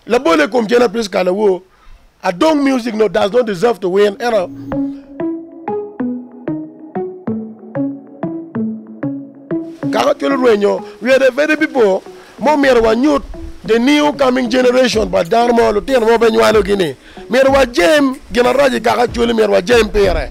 Labol e kom Jenna Prisca Lawo adong music no does not deserve to win eno. Kaka twero rwenyo we the very people mo myero wa nyut the new coming generation but dano mo lutino mo be nywalo gi ni myero wa jem gin arac i kaka cwali myero wa jem pire.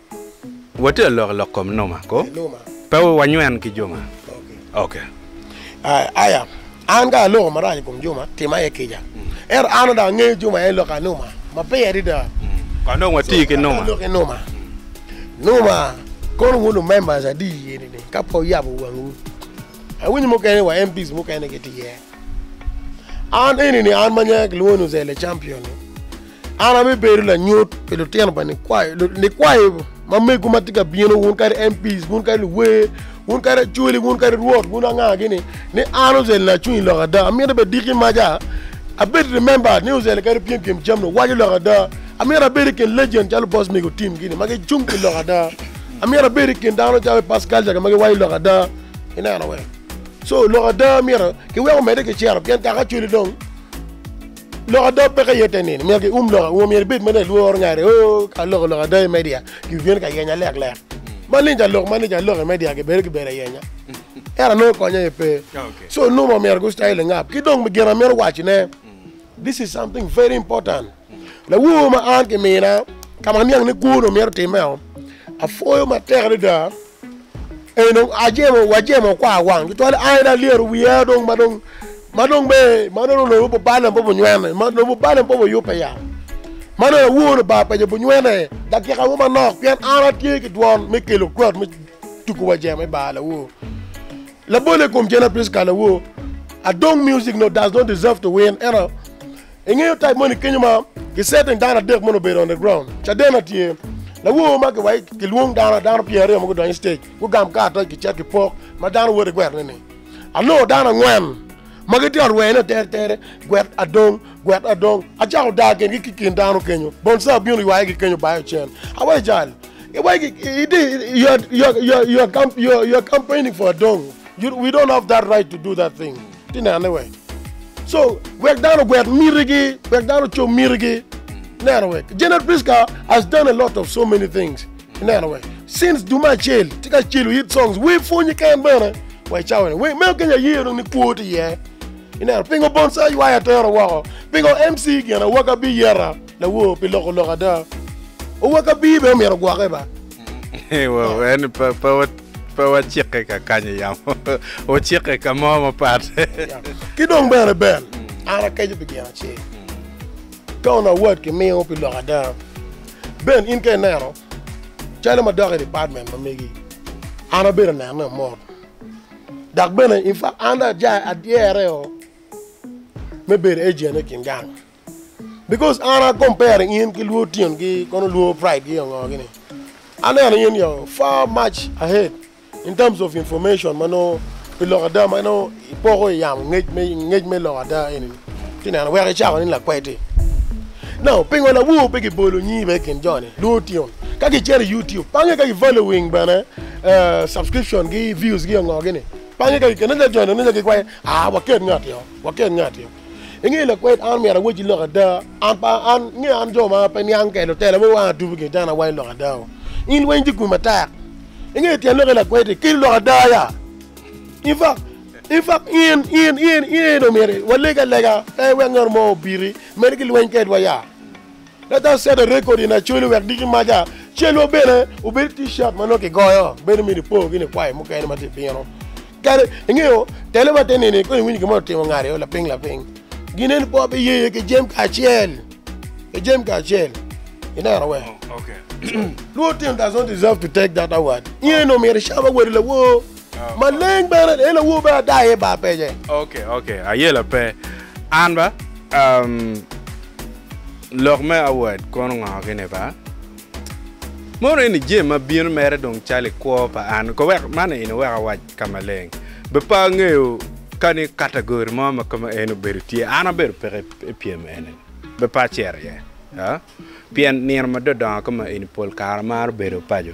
Watye alok lok kom noma ko, pe wanywen ki joma. Ok. Aya, an ka aloko marac i kom joma, tima aye kica. Ento an dong angeyo joma aye loko anoma maber adada. Kong dong wati ki noma. Ati ki noma. Noma kono wun lu members adi i eni ni ka pe wuyabo wangwu? Awinyo mukene wa MPs mukene gitye iye. An eni ni an ma nyinga kilwongo ni Uzele Champion ni, An abibedo lanyut pi lutino pa nikwayo, nikwayo ma megu ma tye ka bino, wun kadi MPs, wun kadi luwer, wun kadi acwali, wun kadi rwot, wun anga gini, ni an Uzel Nacwiny lok ada. Amito bed diki maca, abed remembered ni Uzel kadi pyem pyem jam ni waco lok ada. Amito abed i kin legend calo boss mego Tim gini ma gicung pi lok ada. Amito abed i kin dano calo Pass Culture ma giwaco lok ada. Ineno wee? So lok ada myero kiwek omedde ki cero pien kaka acwali dong. Lok ada peke aye te nino myero ki um lok auma myero ibed ma nongo ilworo ngati o ka loko lok ada i media ki bino ka yenya lek lek maleng ca lok maleng ca lok i media ki bedo ki bedo ayenya ento anongo kony aye pe so nongo myero ki style ingap ki dong gin amito waci ne this is something very important lawor ma an ki mina ka ma aniang ni kwo onongo myero timeo apwoyo matek adada Eno ajemo wajemo kwa wang tutwal aen alyero wiya dong ma dong ma dong me ma dong lobo bubale po bunywene ma lobo bubale po buyube ya ma dong awuono ba penyo bunywene dakika mo manok pien an atye ki dwon me kelo kwot me tuku wajemo i bar lawo labole kom Jena Prisca lawo adong music no does not deserve to win eno Ingeyo type moni kenyo ma ki setting dano adek mono obedo on the ground. Cadena tye lawor ma giwayo kilwong dano dano pyer aryo ma gudonyo stage gugam kar toc ki cek ki pok ma dano woto igwetone ni anongo dano angwen ma gitye on rweny no tere tere gwet adong gwet adong acako dar kingi ki kin dano kenyo bonsa obino ywayo gi kenyo bayo cen awayo jal iwayo gi iti you are you are you are you are campaigning for adong you, we don't have that right to do that thing Ti nene wek. So wek dano ogwek mitigi, wek dano ocom mitigi. Neno wek. Janet Priska has done a lot of so many things. Neno wek. Since dume acel, ti ka celo hit songs. Wer pwonyi ken bene. Wai cawa ni. Meo kenya aye dong ni kwo ti iye. Ineno, pingo Bonsai ywaya atero woko? Pingo MC gin Awakabi yeta lawor pi loko lok ada? Owakabi bene omyero ogwoke ba? en pe wacikke ka kanyo yamo wucikke ka mo mapat ki dong bene bel an akeco pi gin acel ka onongo award kimiyo pi lok ada ben in ka ineno calo ma dok i department ma megi an abedo neno ni omot dok bene in fact an dong adyere o me bedo agent i kin gang Because an a compare in ki luo tyen gi kono luo pride gi ongo gini. Aneno in you're far much ahead in terms of information ma nongo pi lok ada ma nongo ipoko i yamo ngec me ngec me lok ada eni ni ci neno weko icako ni lakwedi. Now pingo lawowo pe gibolo nyingi bene i kin jo ni luo tyen ka gicito i YouTube pange ka gi following bene subscription gi views gi ongo gini pange ka gikene nongo jo ni nongo giwaco aa waket ngati oo waket ngati oo. Inge lakwed an omyero awacci lok ada, an pa an nge an jo ma pe niang kede lutela me wang atubu gin tena wai lok ada o. In lweny tye kwi matek. Inge tyen lok i lakwedi kelo lok ada ya. In fa in fa in in in in omyero waleg alega pe wek ngat mo obiti meri ki lweny kedwa ya. Leta Center Record in Acholi wek diki maca celwa bene obed T-shirt ma nongo kigoyo bedo miti po gini kwayo mukene ma tye bino kadi ingeyo tele ma te nini kong iwinyo gin ma otimo ngari o laping laping ginen po bi yeye ki jem ka acel ki jem ka acel ineno wek luo tin does not deserve to take that award inge nongo miti cam awadi lawoo Maleng bene en awobe ada aye ba penye. Ok ok aye la pe an ba um lok me award kono ngo ki ni ba mono eni jee ma bino mere dong calo i kwo pa an ko wek man eni wek awac ka maleng be pe angeyo ka ni category mo ma ka ma eni obedo tye an abedo peke i pyem eni be pe acito iye ah pien nino ma dodongo ka ma eni pol kare amaro bedo paco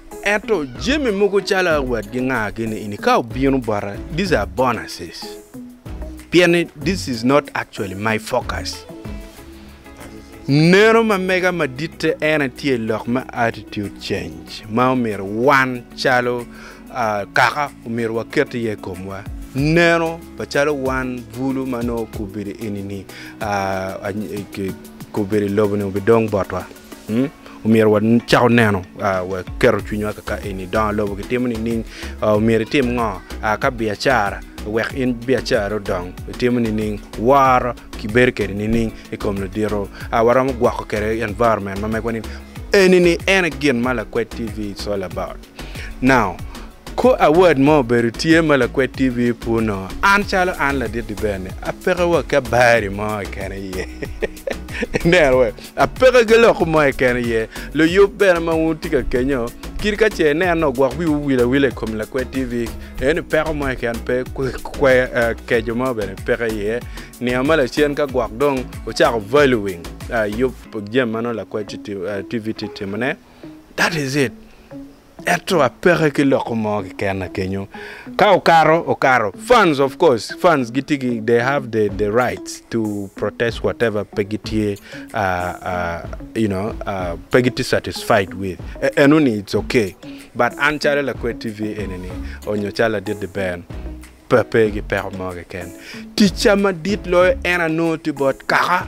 Ento jami mogo calo wat gingaagi ni ini ka obino bota these are bonuses pien ni this is not actually my focus. Neno ma mega maditte en aye tye lok me attitude change ma omyero wan calo ah, kaka omyero waket iye i komwa. Neno pa calo wan bulu ma nongo okubbe di enini ah, any- eh, ki- okubbe di lobo-ni obidong botwa. Omyero wacako neno wa keto cwinywa kaka eni, dongo lobo kitimo nining? Omyero itim ngo ka biacara wek in biacarani odong? Itimo nining? Woro kibedo kede nining i kom ludito? Waromo gwoko kede environment ma megwa ni eni ni ene gin ma Lakwed TV is all about. Now, ko award mo obedo tye ma lakwed TV pur no, an calo an ladit-ti bene, apeke wa ki abari mo keken iye. Ineno we? Apeke ki loko mo keken iye. Luyub bene ma wun wutye ka kenyo, kit ka ce ineno no, gwok wiwu wil awila i kom lakwed TV. Aye ni peko mo keken pe, kwe, eh, keco mo bene peke iye. Nino ma lacen ka gwok dong ocako valuing, eh, yub jami ma nongo lakwed TV tye timone, that is it ento apeke ki loko mo keken kenyo ka okato okato fans of course fans gitye ki they have the the rights to protest whatever pe gitye uh, uh, you know uh, pe gitye satisfied with E- eno ni it's okay but an calo lakwe tv enini onyo calo ladit di ben pe pe ki peko mo keken ticca madit loyo en anongo tye bot kaka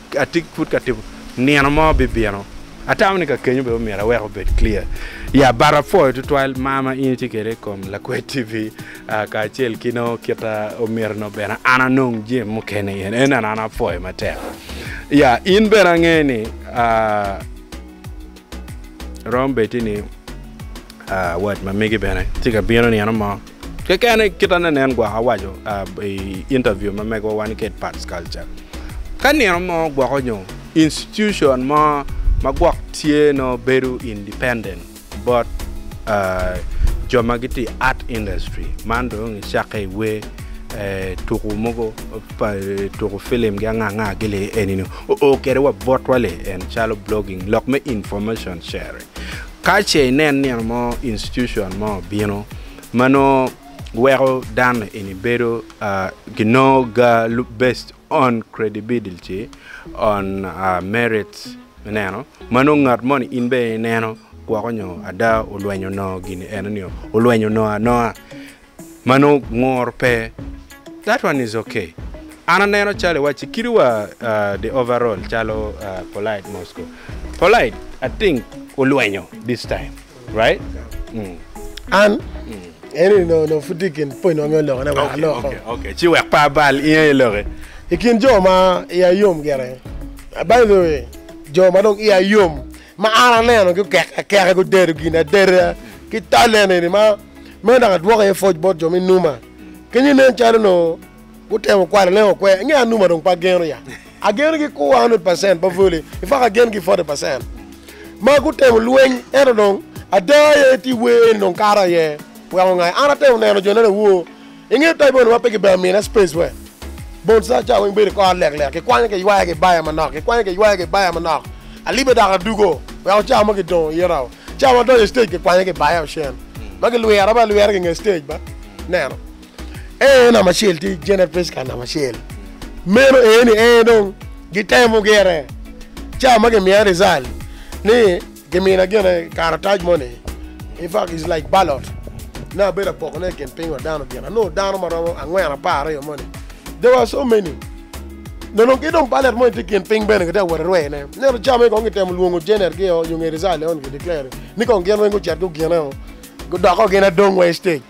atye pud ka tipo nino mo bibino atamo ni ka kenyo bene omyero awek obed clear ya but apwoyo tutwal mar ma in itye kwede i kom lakwed TV kacel ki nongo kit ma omyero nongo bene an anong jami mukene i en eno an apwoyo matek ya in bene ange ni aa. Rom bedi ni wat ma megi bene tye ka bino nino mo keken kit ma nen gwok awaco i interview ma megiwa wan ki Pat Culture. Ka nino mo gwok onyo institution mo ma gwok tye nongo bedo independent bot jo ma gitye i art industry man dong i cakke i wer, tuku mogo, tuku film gi anga anga gi lee eni nongo Oo kede wa botwa le en calo blogging lok me information sharing ka ce inen nino mo institution mo bino ma nongo weko dano eni bedo ki nongo ga based on credibility on merits me neno ma nongo ngat moni in bene ineno gwoko nyo ada olwenyo nongo gini eno nio olwenyo nongo anoa Mano ngur pe. That one is ok. An aneno calo iwacci kit wa the overall calo polite mosco. Polite I think olwenyo this time right mm. An eni no no pud tye ikin pwony ma myero aloke ne wek aloko. Okay okay ci wek pe abal inge i loke. Ikin jo ma iye yom gire by the way jo ma dong iye yom. Ma an aneno gukek akeka gudedo gin adeda ki talene ni ma, meno dok adwoko iye pwoc bot jo me numa. Kenyo nen calo onongo gutemo kwalo leng okwe. Angeyo anuma dong pe ageno ya. Ageno gi ku 100 percent pa Voli, in fact agen ki 40 percent. Ma gutemo lweny ento dong ada aye ti wer ni dong kato aye weko ngai. An atemo neno jo nene woo. Inge tayi bone ma pe ki bene mine space we bon sa ca weng bedo kor lek lek ki kwanyo ki ywaya ki baya manok ki kwanyo ki ywaya ki baya manok alibe dok adugo weko ca mo ki dongo ita o ca ma donyo stage ki kwanyo ki baya ocen ma ki lwira ba lwira ki nge stage ba neno ee namba acel tye Janet Prisca namba acel meno ee ni ee dong gi temo gire ca ma ki miya result ni Gimina gene karatac mo ni, In Fact Is Like Ballot, ne abedo apokone i kin piny wa dano gin, anongo dano ma romo angwen apar aryo moni, there were so many, nonong ki dong ballot moni tye i kin piny bene kitye ka wot erwee ne, neno cawa magi kong gitemo lwongo Janet gi o nyo nge result eno gi declare ni kong gin weng gucit gugine o, gudoko gin adong wa i stage.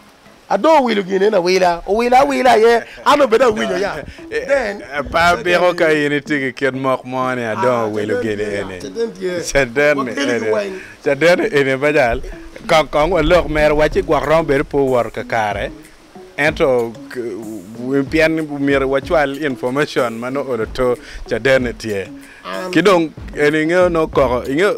Adong owilo gin eni awila, owila awila aye, an dong bed awinyo ya. Then, Apa biko ka in itye ki kit mok mo ni adong owilo gin eni? Caden tye. Caden ni Wakeligi eni, weng. caden ni eni me jal. Kong kong walok mere, wacci gwok romo bedo pe owoto kakare, ento k- pien myero wacwal information ma nongo oloto caden ni tye. Ki dong eni ingeyo nongo koko, ingeyo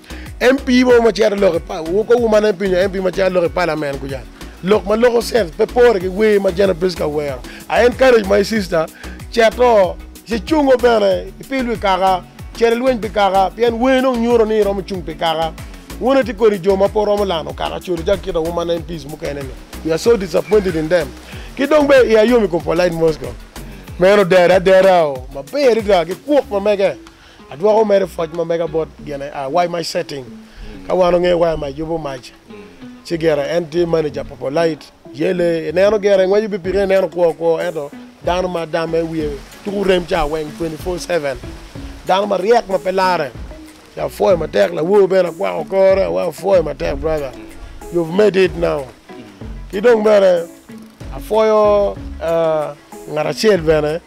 MP mo ma cito lok i pa, wukowu man MP nyo MP ma cito lok i Parliament kuca, lok ma loko sense pe pore ki wer ma Janet Pritzker wero, I encourage my sister cito ci cungo bene i pil wi kaka, cito i lweny pi kaka, pien wer dong nyuto ni iromo cung pi kaka. Wun ati kodi jo ma pe wuromo lano kaka codo calo kita wu man MPs mukene ni, we are so disappointed in them. Ki dong be iya yom i kom Polite Moscow, meno dere adera o, maber adada ki kwok ma mege. Adwoko mere pwoc ma mega bot gine a Why my setting? Ka wan ongeyo why my yubu mac ci gire en tye manager pa polite yele ineno gire ngweco pi pike ineno kwo kwo ento dano ma dame wiye tuku rem ca weng twenty four seven dano ma ryek ma pe lare ci apwoyo matek lawor bene akwako kore awa apwoyo matek brother you've made it now ki dong bene apwoyo ngat acel bene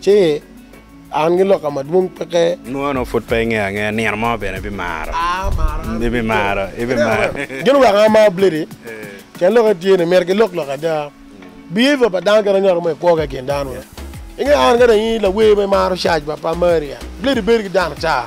Ci an ki lokka madwong peke. Nwono pud pe ingeyo angeya nino mo bene ibimaro. Ibimaro. Ibimaro. Gin oweko an amaro bledi, pien lok etye ni myero kilok lok ada. Behavior pa dano kit anyoto mo ikwo ki kin dano. Ingeyo an ka dong in lawer ma imaro cac pa Maria, bledi bedo ki dano ata.